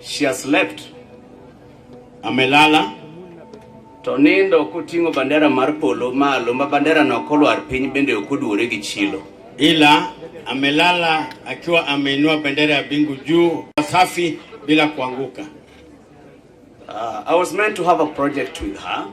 She has slept. Amelala to nindo koting'o bandera mar polo malo ma bandera no kolwar piny bende ok oduore gi chilo, ila amelala akiwa ameinua bendera ya bingu juu safi bila kuanguka. Uh, I was meant to have a project with her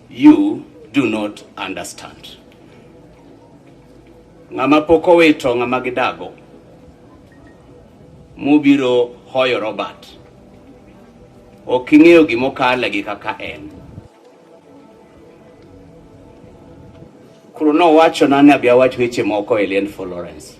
You do not understand. Ng'ama pok owito ng'ama gidago mubiro hoyo Robert. Ok ing'eyo gima okale gi kaka en. Koro nowacho nane abi awach weche moko e Lien Florence.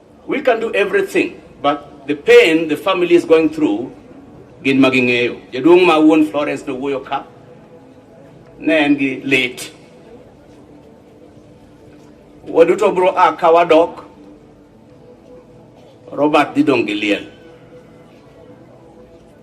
We can do everything but the pain the family is going through gin ma ging'eyo. Jaduong' ma wuon Florence no wuoyo ka ne en gi lit. Waduto bro a ka wadok Robert didong' gi liel.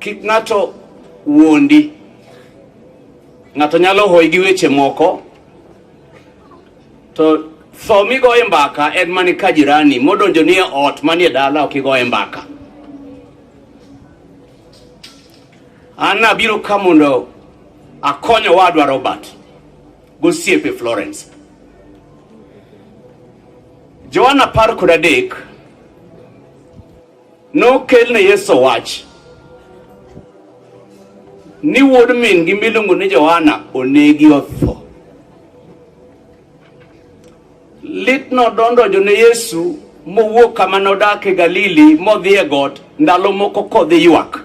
Kik ng'ato wuondi. Ng'ato nyalo hoyi gi weche moko to tho migoye mbaka en mani ka jirani modonjo ni e ot manie dala ok igoye mbaka. An abiro ka mondo akony owadwa Robert. gosiepe Florence. Joana apar kod adek nokel ne Yesu wach ni wuod min-gi miluongo ni Johana onegi otho. Lit nodondojo ne Yesu mowuok kama nodak e Galili modhi e got ndalo moko kodhi ywak.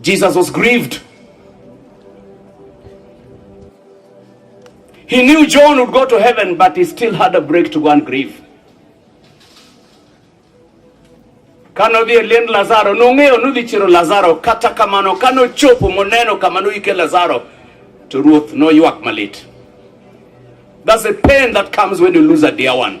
Jesus was grieved. He knew John would go to heaven, but he still had a break to go and grieve. Kano dhi eliend Lazaro, nong'eyo nudhi chiro Lazaro, kata kamano kano chopo moneno kama noyike Lazaro, to ruoth noywak malit. That's the pain that comes when you lose a dear one.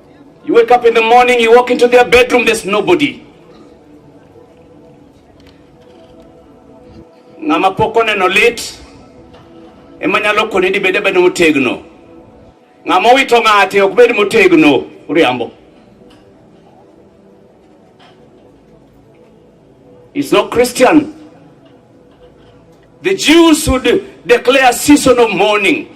You wake up in the morning, you walk into their bedroom, there's nobody. Ng'ama pok oneno lit ema nyalo koni ni bede bedo motegno. Ng'ama owito ng'ate ok bed motegno, uriambo. It's not Christian. The Jews would declare season of mourning.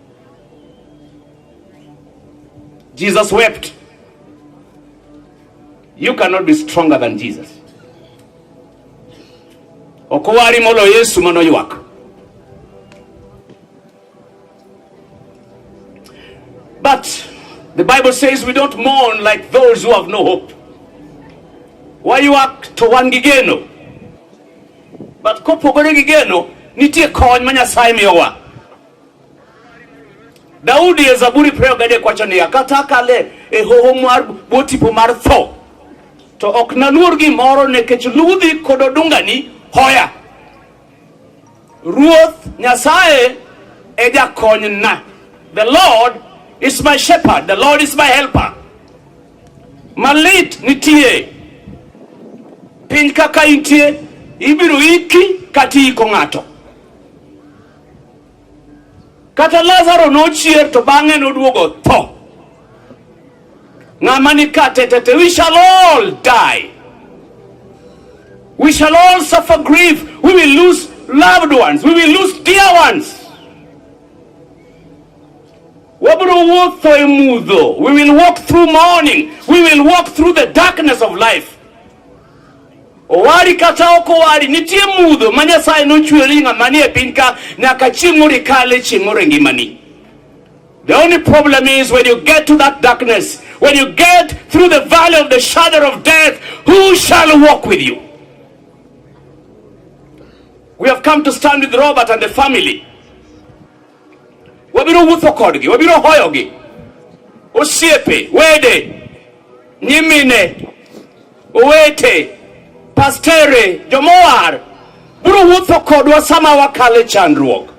Jesus wept. You cannot be stronger than Jesus. Okowari molo Yesu mano ywak. But the Bible says we don't mourn like those who have no hope. Why you act to one gigeno? But kopogore gigeno nitie kony ma Nyasaye miyowa. Daudi e Zaburi prayer gade kwacho ni kata kale e hoho mar botipo mar tho to ok naluor gimoro nekech ludhi kod odungani hoya. Ruoth Nyasaye e jakonyna. The Lord is my shepherd, the Lord is my helper. Malit nitie piny kaka intie ibiro iki kata iiko ng'ato. Kata Lazaro nochier to bang'e noduogo tho. Ng'ama ni ka tetete, we shall all die. We shall all suffer grief. We will lose loved ones. We will lose dear ones. Wabro wuotho e mudho. We will walk through morning. We will walk through the darkness of life. Owari kata ok owari, nitie mudho ma Nyasaye nochweri ng'ama nie piny ka nyaka chieng' moro ikale, chieng' moro e ngimani. The only problem is when you get to that darkness, when you get through the valley of the shadow of death, who shall walk with you? We have come to stand with Robert and the family. wabiro wuotho kodgi, wabiro hoyogi, osiepe, wede, nyimine, owete, pastere, jomowar biro wuotho kodwa sama wakale chandruok.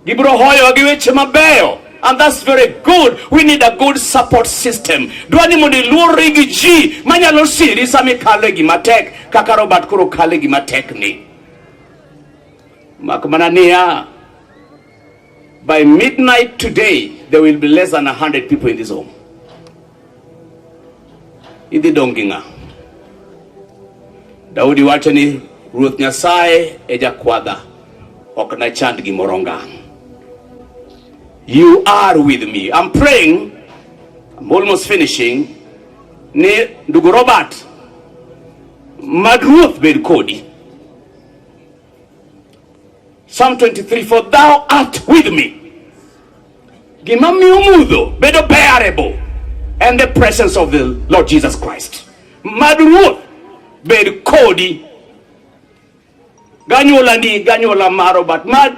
Gibiro hoyowa gi weche mabeyo and that's very good. We need a good support system. Dwani mondo iluorri gi ji manyalo siri sama ikalo e gima tek kaka Robert koro kalo e gima tek ni. Mak mana niya, by midnight today there will be less than 100 people in this home. Idhi dong' gi ng'a? Daudi wacho ni Ruoth Nyasaye e jakwadha, ok nachand gimoro ngang'. You are with me. I'm praying, I'm almost finishing, ni ndugu Robert, mad Ruoth bed kodi. Psalm 23, for thou art with me. Gima miyo mudho bedo bearable and the presence of the Lord Jesus Christ. Mad Ruoth bed kodi ganyuola ni ganyuola maro but mad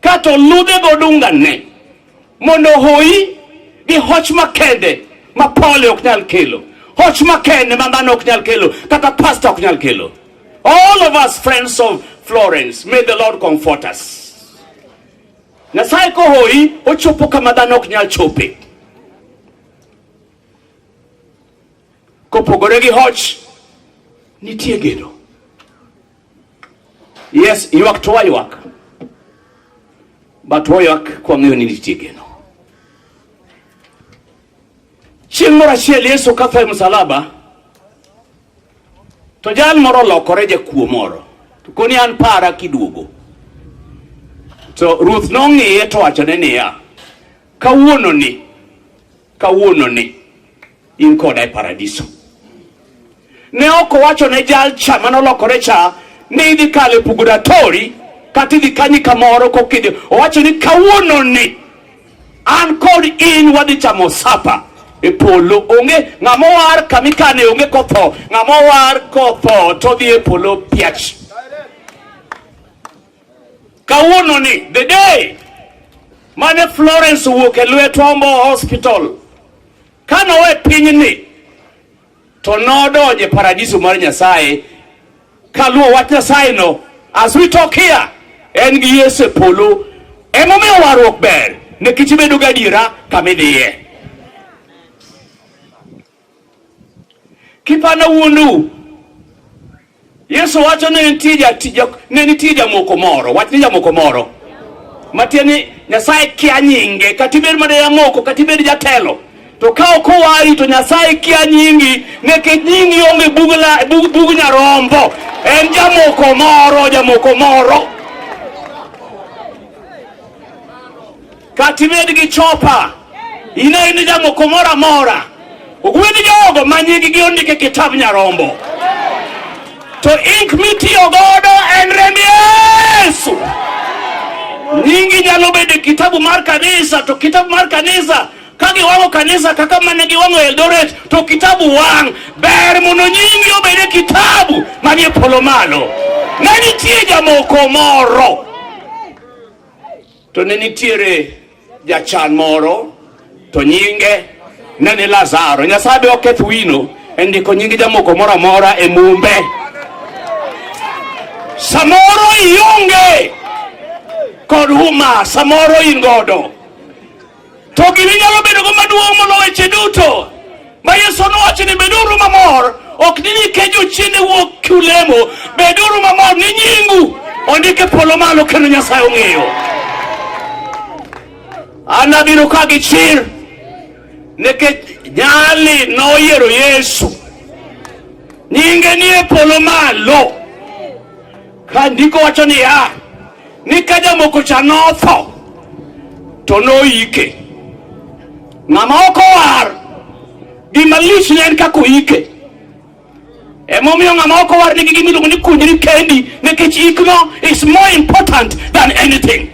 Kato ludhe godunga ne mondo hoyi gi hoch makende ma pole ok nyal kelo, hoch makende ma dhano ok nyal kelo, kata pasta ok nyal kelo. All of us friends of Florence, may the Lord comfort us. Nyasaye kohoyi ochopo kama dhano ok nyal chope. Kopogore gi hoch nitie geno. Yes, ywak to waywak. But waywak kwa ng'eyo ni nitie geno. Chieng' moro achiel Yesu katho e msalaba to jal moro olokore jakuo moro to koni an para kiduogo to ruoth nong'iye to wachone niya kawuononi Kawuono ni in koda e paradiso. Ne ok owacho ne jal cha mane olokore cha ni idhi kalo e purgatori kata idhi kanyi kamoro kokidhi. Owacho ni kawuono ni an kod in wadhi chamo sapa e polo. Onge ng'ama owar kama ikane onge kotho, ng'ama owar kotho to odhi e polo piach. Kawuono ni the day mane Florence owuok e lwet Ombo Hospital kano we pinyni to nodonje paradiso mar Nyasaye kaluwo wach Nyasaye no as we talk here en gi Yesu e polo emomiyo warruok ber nikech ibedo gadiera kama idhiye. Kipanda wuondu. Yesu wacho ne nitie jatija ne nitie jamoko moro, wach ni jamoko moro. Matieni Nyasaye kia nyinge, kata ibed mana jamoko, kata ibed jatelo. To ka ok owari to Nyasaye kia nyingi, nekech nyingi onge bug la bug, bug nyarombo. En jamoko moro, jamoko moro. katibed gi chopa ine in jamoko moro amora ogwedh jogo ma nyinggi ondik e kitap nyarombo to ink mitiyo godo en remb yesu nyingi nyalo bedo e kitabu mar kanisa to kitabu mar kanisa ka giwang'o kanisa kaka mane giwang'o eldoret to kitabu wang' ber mondo nyingi obed e kitabu manie polo malo ne nitie jamoko moro To ne nitiere jachan moro to nyinge ne ni Lazaro. Nyasaye be oketh wino e ndiko nying jamoko moro amora e mumbe. Samoro ionge kod huma, samoro in godo To gima inyalo bedogo maduong' moloyo weche duto ma Yesu nowacho ni beduru mamor, ok ni nikech ochiende wuok kulemo, beduru mamor ni nyingu ondike polo malo kendo Nyasaye ong'eyo. An abiro ka gi chir nikech nyali noyiero Yesu, nyinge nie polo malo. Ka ndiko wacho niya ni ka jamoko cha notho to noyike. Ng'ama ok owar gima lich ne en kaka oyike. Emomiyo ng'ama ok owar nigi gima iluongo ni kunyri kendi nikech ikno is more important than anything.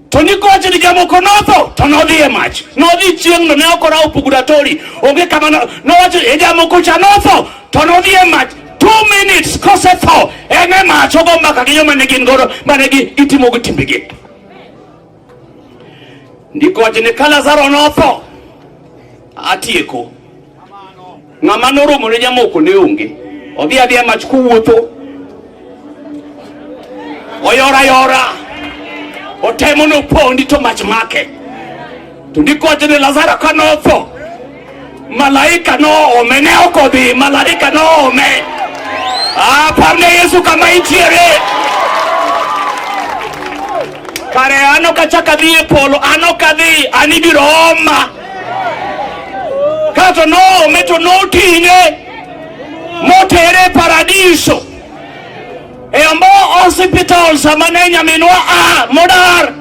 To ni kowacho ni jamoko notho to nodhi e mach, nodhi chieng'no, ne ok orawo puguratori, onge kama no- nowacho e jamoko cha notho to nodhi e mach two minutes kosetho en e mach ogo mbaka gi joma ne gin godo mane gi- gitimogo timbegi. Ndiko wacho ni ka Lazaro notho atieko Ng'ama noromo ne jamoko ne onge. Odhi adhiya mach kowuotho. Oyora yora. Otemo no pondi to mach make. To ndiko wacho ni Lazaro ka notho. Malaika noome ne ok odhi, malaika noome. Ah, pamne Yesu kama intiere. Kare ano kachaka dhi e polo, ano kadhi, anibiro oma. kato noome to noting'e motere paradiso e ambo hospital sama ne nyaminwa a modar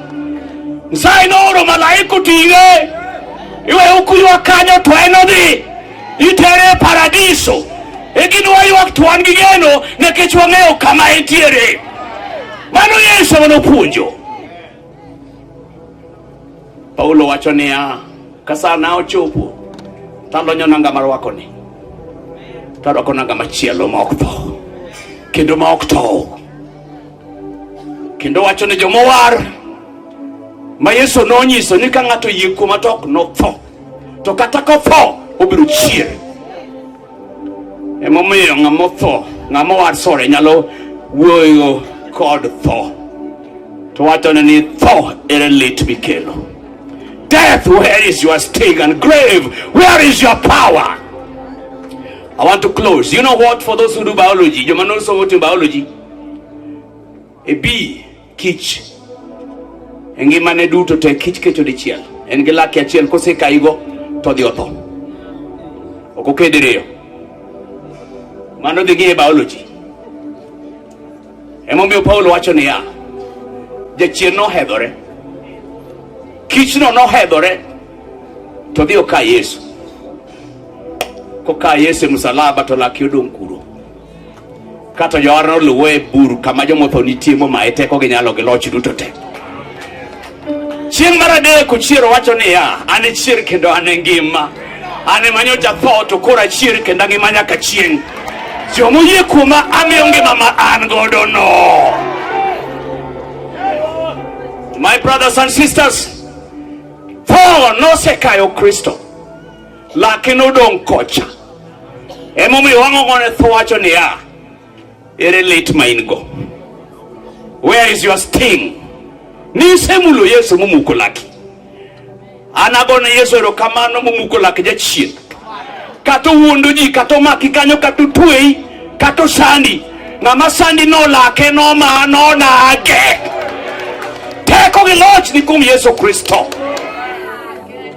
nsaye nooro malaika oting'e iwe ukuywa kanyo to en odhi itere paradiso e gin waywak to wan gi geno nikech wang'eyo kama entiere mano yesu manopuonjo Paulo wacho niya, ka sana ochopo talonyo nanga marwakoni tarwako nanga machielo ma ok tho kendo ma ok tow kendo wacho ni jomowar ma Yesu nonyiso ni ka ng'ato yie kuoma to ok notho to kata kotho obiro chier Emomiyo ng'ama otho, ng'ama owar sore nyalo wuoyo kod tho. To wachone ni tho ere lit mikelo. Death, where is your sting? And grave, where is your power? I want to close. You know what? For those who do biology, you know someone in biology. E bi kich e ngimane duto te kich kecho dichiel en gi lake achiel kosekayigo to odhi otho ok oked riyo mano dhi gi e biology emomiyo paulo wacho niya jachien nohedhore kichno nohedhore to dhi oka yesu koka yesu e msalaba to lake odong' kuro Ka to jowarno luwe e bur kama jomotho nitie momaye teko gi nyalo gi loch duto te. Chieng' mar adek ochier owacho niya, an e chier kendo an e ngima. An ema nyocha tho to koro achier kendo angima nyaka chieng'. Joma oyie kuoma amiyo ngima ma an godo no. My brothers and sisters, tho nosekayo Kristo. Lake nodong' kocha. Emomiyo wang'ong'one tho wacho niya, ere lit ma in go? Where is your sting? Nisemulo Yesu momuko laki. An agone Yesu erokamano momuko lak jachien. Kata owuondo ji, kata omaki kanyo, kata otweyi, kata osandi. Ng'ama sandi nolake, noma, nonage. Teko gi loch ni kuom Yesu Kristo.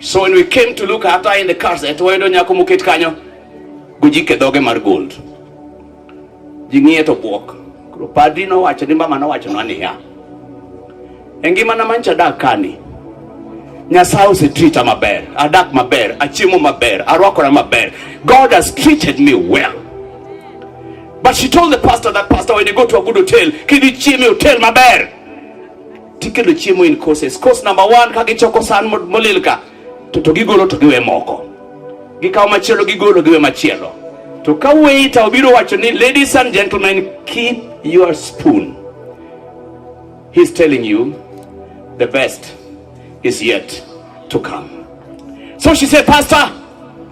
So when we came to look after in the cars, at wayudo nyako moket kanyo gojike dhoge mar gold. Ji ng'iye to bwok. Koro padri nowacho ni mama nowacho na niya. E ngimana mancha adak kani. Nyasaye osetrita maber, adak maber, achiemo maber, arwakora maber. God has treated me well. But she told the pastor that pastor when you go to a good hotel, can you chill me hotel maber? Tikelo chiemo in courses. Course number one, ka gichoko san molil ka to to gigolo to giwe moko, gikawo machielo gigolo giwe machielo. To ka waiter obiro wacho ni ladies and gentlemen, keep your spoon, he's telling you the best is yet to come. So she said, Pastor,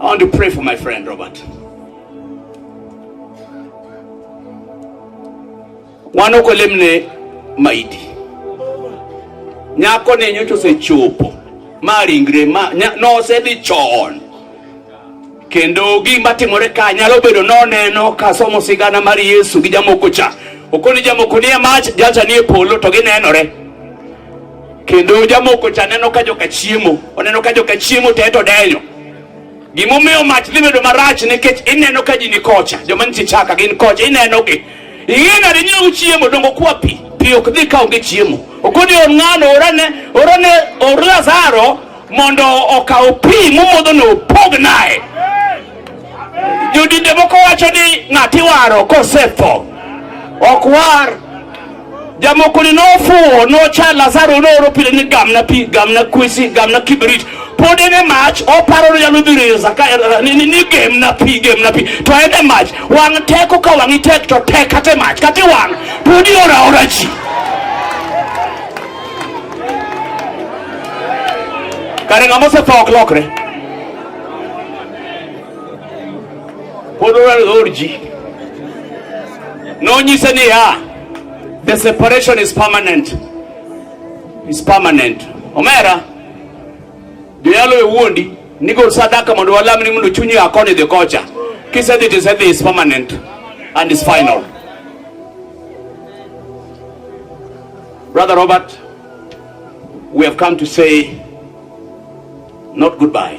I want to pray for my friend Robert. Wano kolemne maidi. Nyako ne nyocho se chopo. Ma ringre ma no se di chon. Kendo gima timore ka nyalo bedo noneno ka somo sigana mar Yesu gi jamoko cha. Okoni jamoko nie mach, jacha nie polo to ginenore. Kendo jamoko cha neno ka joka chiemo, oneno ka joka chiemo te to denyo. Gimomiyo mach dhi bedo marach nikech ineno ka ji ni kocha, joma nitie chaka gin kocha, inenogi. Ing'e nade nyiewo chiemo dongo kwa pi, pi ok dhi kawo gi chiemo. Okoni or ng'ano orane, orane or Lazaro mondo okaw pi momodho no opog naye. Jodinde moko wacho ni ng'ati waro kosetho ok war jamoko ni nofuwo nocha lazaro nooro pile ni gamna pi gamna kwesi gamna kibrit pod en e mach oparo ni nyalo dhi resa ka eh, ni- ni ni gemna pi gemna pi to en e mach wang' teko ka wang'i tek to tek kata e mach kata iwang' pod ioraora ji kare ng'ama osetho ok lokre Oral Orji nonyise ni ya the separation is permanent is permanent omera joyalo e wuondi nigol sadaka mondo walamni mondo chunyi akoni dhi kocha kisedhi tisedhi is permanent and is final brother robert we have come to say not goodbye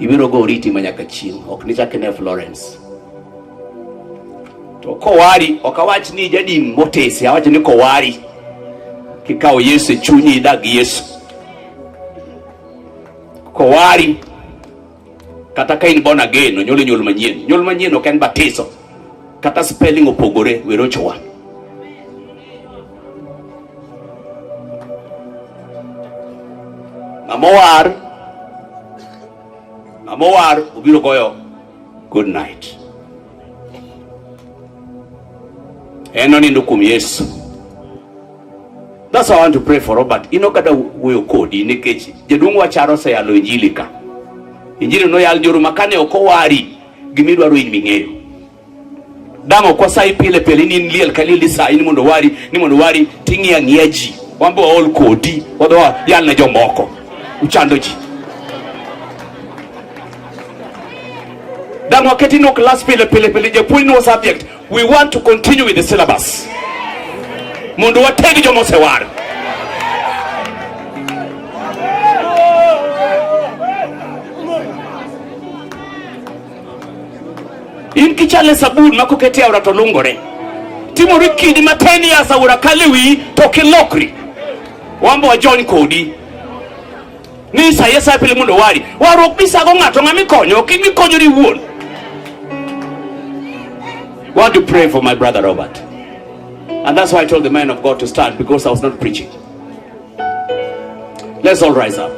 Ibiro go oriti ma nyaka chieng', ok nichak ine Florence. To kowari, ok awach ni jadin motesi, awach ni kowari kikawo Yesu e chunyi idag Yesu. Kowari kata ka in born again, onyuoli nyuol manyien. Nyuol manyien ok en batiso, kata spelling opogore, werochowa. Mamowar, Mamowar obiro goyo good night. En onindo kuom Yesu. That's why I want to pray for Robert. Ino kata wuoyo kodi nikech jaduong' wacharo oseyalo injili ka. Injili noyal joru makane ok owari gimidwaro in ming'eyo. damo kwa sai pile pile ni nliel kali lisa ni mondo wari ni mondo wari tingi ya ngiaji wambo all kodi wadwa yal na jomoko uchando ji damo keti no class pile pile pile je point no subject we want to continue with the syllabus mondo wategi jomo sewar in kichale sabun ma kokete aora to lungore timori kidi ma ten years aora kale wiyi to kilokri wambo wajony kodi ni sa yesaye pile mondo wari warruok misago ng'ato ng'ama ikonyo ok mikonyori iwuon want to pray for my brother Robert. And that's why I told the man of God to stand because I was not preaching. Let's all rise up.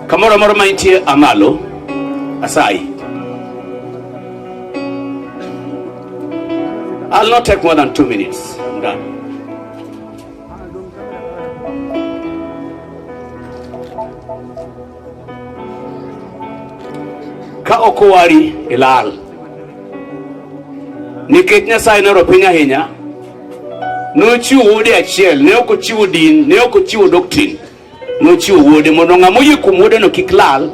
Kamoro amoro ma nitie amalo asayi. I'll not take more than two minutes. I'm done. Ka ok owari ilal nikech Nyasaye noro piny ahinya Nochiwo wuode achiel, ne ok ochiwo din, ne ok ochiwo doktrin. Nochiwo wuode mondo ng'ama oyie kuom wuodeno kik lal,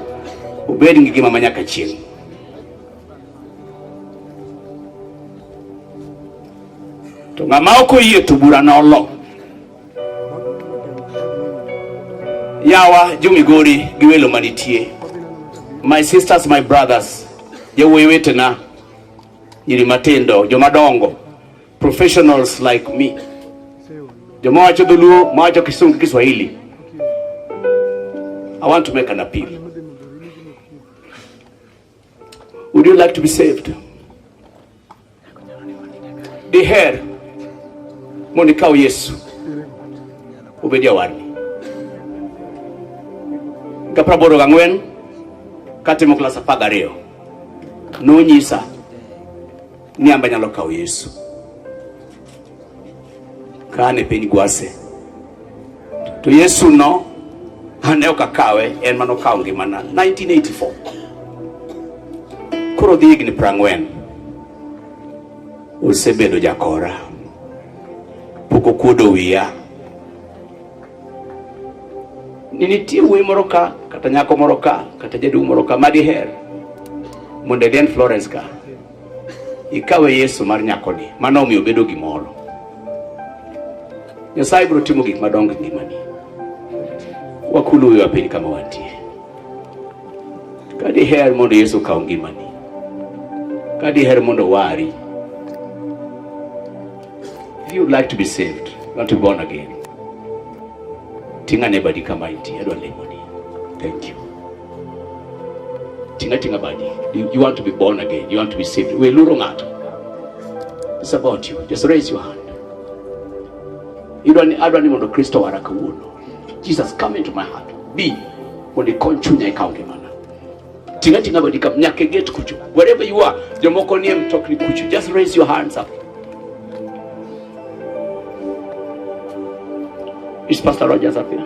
obed gi ngima ma nyaka chieng'. To ng'ama ok oyie to bura nolo. Yawa jomigori gi welo manitie. My sisters, my brothers, jowuoyi wetena, nyiri matindo, jomadongo, Professionals like me. Jamaa wacho Dholuo, mawacho Kisungu, Kiswahili. I want to make an appeal. Would you like to be saved? Diher mondo ikaw Yesu obed jawarni. Ka praboro gang'wen katimo klas apar gariyo nonyisa Ng'e amba nyalo kawo Yesu kane piny gwase to Yesu no ane ok akawe en mano kawo ngimana 1984 koro dhi higni prang'wen osebedo jakora pok okuodo wiya ni nitie wuoyi moro ka kata nyako moro ka kata jaduong' moro ka madiher mondo eden Florence ka Ikawe Yesu mar nyakoni, mano omiyo bedo gimoro. Nyasaye biro timo gik madongo e ngimani. Wakuluwe piny kama wantie. Ka diher mondo Yesu okaw ngimani, ka diher mondo wari, if you would like to be saved, not to be born again, ting'ane badi kama intie, adwa lemoni. Thank you. Tinga tinga badi. You, you want to be born again. You want to be saved. We luro ngato. It's about you. Just raise your hand. You don't I don't even know Kristo wara kawuono. Jesus come into my heart. Be when you come chunya ikaonge mana. Tinga tinga badi kam nyake get kuchu. Wherever you are, jomoko nie mtokni kuchu. Just raise your hands up. Is Pastor Rogers up here?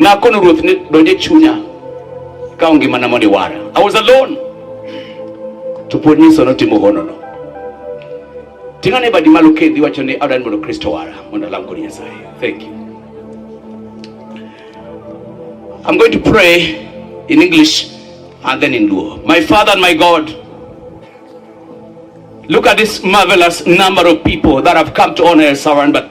Nakono ruoth ne donje chunya ka ngima na mondo iwara. I was alone. To pod nyiso notimo hono no. Tinga ne badi malo kendi wacho ni adan mondo Kristo wara mondo alam kod Nyasaye. Thank you. I'm going to pray in English and then in Luo. My Father and my God, look at this marvelous number of people that have come to honor El Saran, but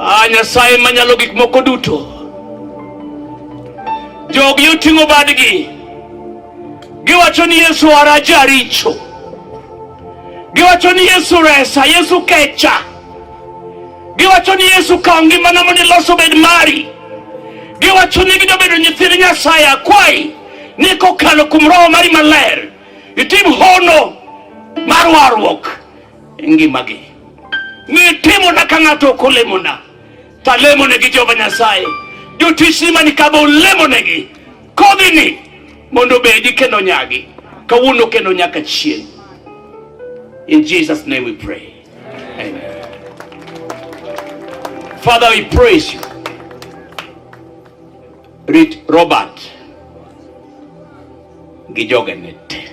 Ah, Nyasaye manyalo gik moko duto, jogi oting'o badgi, giwacho ni Yesu ara jaricho, giwacho ni Yesu resa, Yesu kecha, giwacho ni Yesu kaw ngimana mondo iloso bed mari, giwacho ni gido bedo nyithind Nyasaye. Akwayi ni kokalo kuom Roho mari maler itim hono mar warruok ngimagi. Nitimona ka ng'ato ok olemona, to alemonegi Jehova Nyasaye. Jotichni mani ka be olemonegi kodhini mondo obedi kendo nyagi kawuono kendo nyaka chieng'. In Jesus' name we pray. Amen. Father, we praise you. Read Robert. Gijogenet.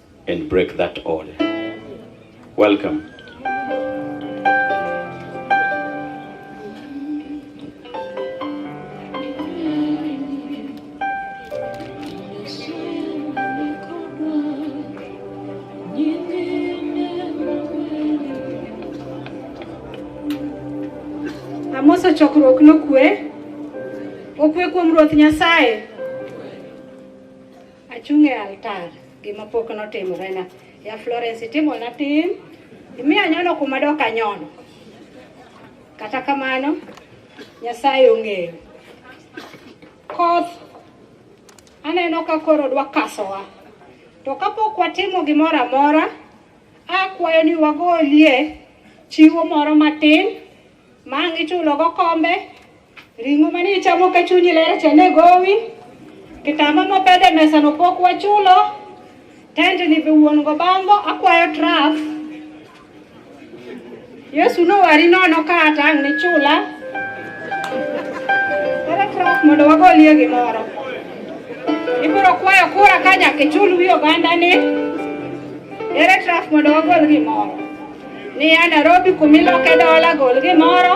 and break that all. Welcome. Amoso chokruok nokwe. Okwe kuom Ruoth Nyasaye. Achung' e altar, gima pok notimorena. Ya Florence, itimona tim, imiyo anyono kuma dok anyono. Kata kamano, Nyasaye ong'eyo. Koth aneno ka koro dwa kasowa, to kapok watimo gimoro amora, akwayo ni wagolie chiwo moro matin Ma ang' ichulo gokombe, ring'o mane ichamo ka chunyi ler cha ne gowi, kitamba mopedh e mesano pok wachulo, tendni be wuon go bango, akwayo traf. Yesu nowari nono ka ata ang' nichula. Ere traf mondo wagolie gimoro. Ibiro kwayo kura ka nyaka ichul wi ogandani. Ere traf mondo wagol gimoro. Ni a Nairobi kumiloke dola gol gimoro.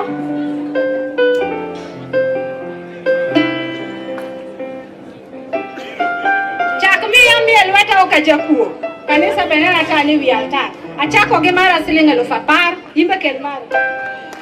Chak miya mie lweta ok ajakuo. Kanisa benena ka ni wi altar. Achako gi mara siling' eluf apar, imbe kel mara.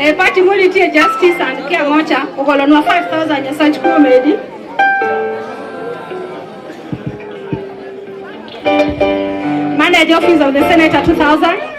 Eh, party muli tie justice and care mocha ukolonwa 5000 ya such comedy. Manage office of the senator 2000.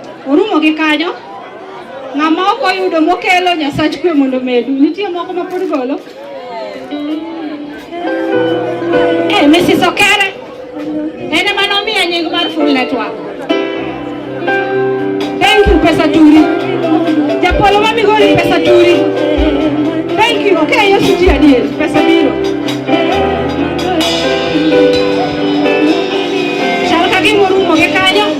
Orumo gi kanyo. Ng'ama ok oyudo mokelo Nyasach kwe mondo medu. Nitie moko ma pod golo. Eh, Mrs. Okere. En ema nomiya nying mar full network. Thank you pesa turi. Japolo ma migori pesa turi. Thank you. Okay, Yesu ji adier. Pesa biro.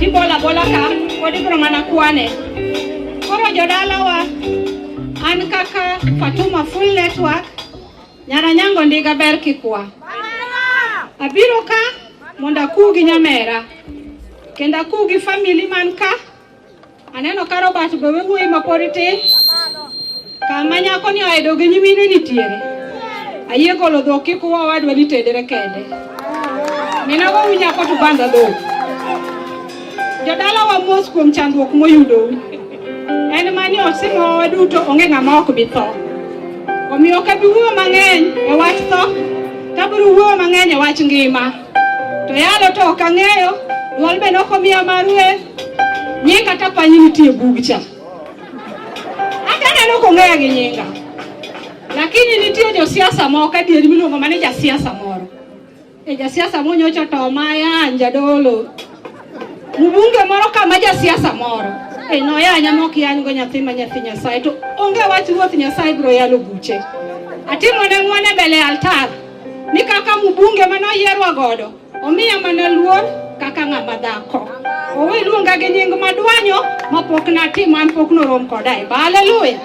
Ibola bola ka pod ibro mana kwane. Koro jodalawa an kaka Fatuma Full Network Nyaranyango Ndiga ber kikwa. Abiro ka mondo akuw gi nyamera kendo akuw gi famili man ka Aneno ka Robert gowe wuoyi ma pod tin. Kama nyako ni oedo gi nyimine nitiere. Ayie golo dhok kik uwa wadwa ni tedere kende. Minago wi nyako to banda dhok. Jodala wa mos kuom chandruok moyudo. En mani osimo waduto onge ng'ama ok bi tho. Omiyo ka biwuo mang'eny e wach tho, ka biro wuo mang'eny e wach ngima. To yalo to ok ang'eyo, dwol be nokomiya ma rueth, nying kata panyi nitie bug cha. Hata neno kong'eya gi nyinga. Lakini nitie josiasa moko adieri miluongo mane jasiasa moro. E jasiasa monyocho to maya njadolo. Mbunge moro kama jasiasa moro. E noya nyamo kiyan go nyathi ma nyathi Nyasaye to onge wach ruoth Nyasaye bro yalo buche. Atimo ne ng'wane mbele altar. ni kaka mbunge mane oyierwa godo omiya mana luor kaka ng'ama dhako. Owe luonga gi nying madwanyo ma pok natim an pok norom koda e ba. Haleluya.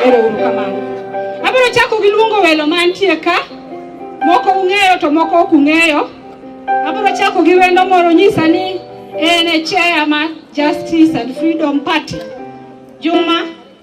Ero uru kamano. Abiro chako gi luongo welo mantie ka. Moko ung'eyo to moko ok ung'eyo. Abiro chako gi wendo moro nyisa ni en e chair ma Justice and Freedom Party. Juma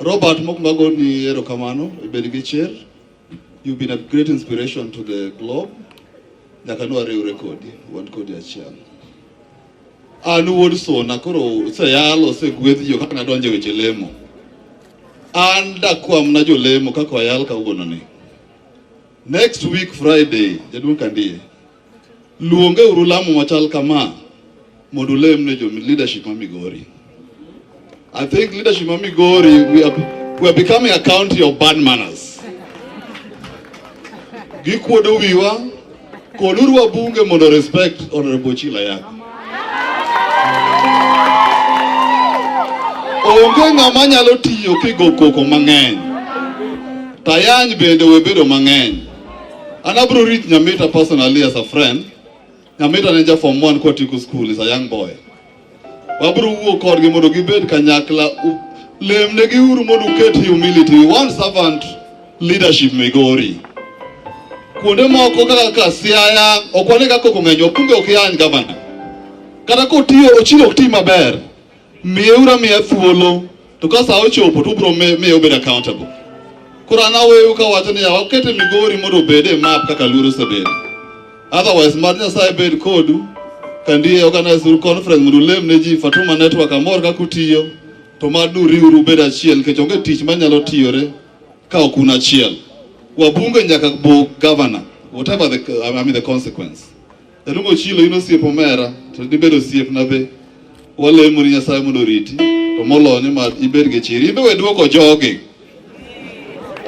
Robert Mokmago ni erokamano ibed gi chir. You've been a great inspiration to the globe. Nyaka nwa riwre kodi, wan kodi achiel. An wuod Sona koro oseyal osegwedh jo kaka nadonjo e weche lemo. An dakwam na jolemo kaka wayal kawuono ni. Next week Friday, jaduong' Kandie, Luonge uru lamo machal kama mondo ulem ne jo leadership ma Migori. I think leadership ma Migori we are, we are becoming a county of bad manners. Gikuodo wiwa koduru wabunge mondo respect honorable Chila yako. Onge ng'ama nyalo tiyo kigo koko mang'eny. Tayany bende webedo mang'eny. And Abro reached Nyamita personally as a friend. Nyamita ne ja form 1 kwa Tiku school is a young boy. Wabro wuo kodgi mondo gibed kanyakla lemnegi uru mondo uket humility. We want servant leadership Migori. Kuonde moko kaka ka Siaya ok wane kaka kong'enyo, kumbe ok yany gavana. Kata kotiyo ochilo ok ti maber. Miyeura miya thuolo to ka saa ochopo to ubiro miyo obed accountable. Koro an aweyou kawacho ni yawa ukete Migori mondo obed e map kaka Luoro osebedo. Otherwise mad Nyasaye bed kodu kandi organize uru conference mondo ulem ne ji Fatuma Network amor kaka utiyo to mad uriuru ubed achiel nikech onge tich manyalo tiyore ka ok un achiel. Wabunge nyaka bug governor whatever the, I mean the consequence. Elugo chilo in osiep omera to dibed osiepna be. Walemo ni Nyasaye mondo oriti to molo ni ma ibed gi chiri. Ibe we duoko jogi.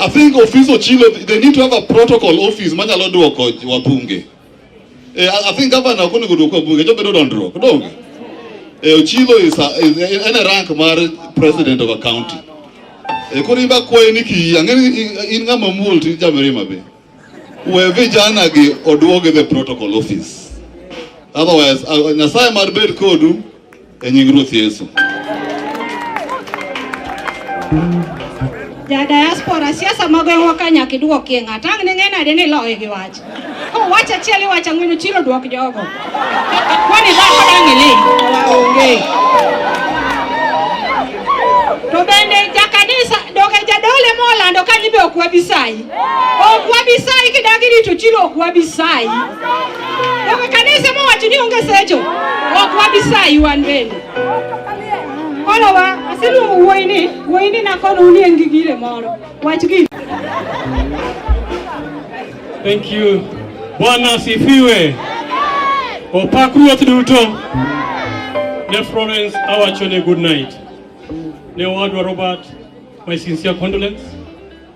I think office ochilo they need to have a protocol office manyalo duoko wabunge. Eh, I I think governor ok onego duoko wabunge to bedo dondruok. Donge? Eh, Ochilo is, a, is en e rank mar president of a county. Eh, koro in bakwayo ni kiyie ang'e ni in- in ng'ama muol to in jamirima be. We vijana gi oduogi the protocol office. Otherwise, uh, Nyasaye mar bed kodu e nying Ruoth Yesu. Ja diaspora siasa mag gweng'wa ka nyaka idwokie ng'ato ang' ne ng'e nade ni loye gi wach kowach achiel iwacho ang'wen ochilo dwok jogo kwani dhako dang' ili onge to bende jakanisa doge jadole molando kanyi be ok wabi sayi okuwabisayi kidagi litu chili okuwabisayi oke kanisa mowachi niongesa echo okuwabisayi wan bende olowa asiluongo wuoyini wuoyini nakono unie ngigire moro wach gi Thank you. Bwana asifiwe. Opak ruoth duto. Ne Florence awachone good night. Ne owadwa Robert, my sincere condolence.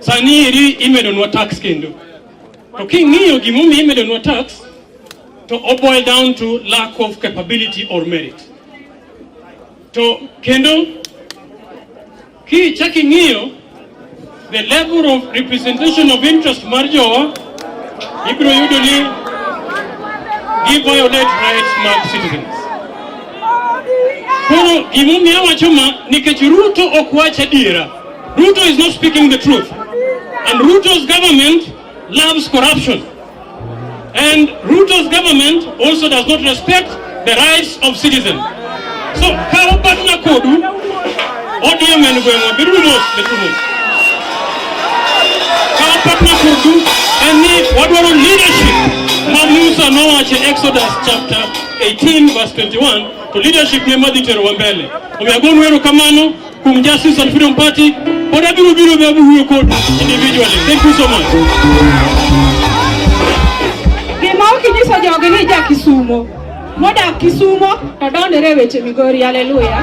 Sani eri imedonwa tax kendo. To king'iyo gimomiyo imedonwa tax to oboil down to lack of capability or merit. To kendo kichaki ng'iyo the level of representation of interest mar jowa ibiro yudo ni gi violate rights mag citizens. Koro gimomiyo awacho ma nikech Ruto ok wach adiera Ruto is not speaking the truth. And Ruto's government loves corruption. And Ruto's government also does not respect the rights of citizens. So, kawo partner kodu, ODM en gweng'wa, beduru mos, beduru mos. Kawo partner kodu en ni wadwaro leadership ma Musa nowacho e Exodus chapter 18 verse 21 to leadership ne madhi terowa mbele. Omiyo agonu erokamano From Justice and Freedom Party, but I will be able to record individually. Thank you so much. Gima ukinyiso jogi ni ja Kisumo modak Kisumo to dondore weche Migori. Haleluya!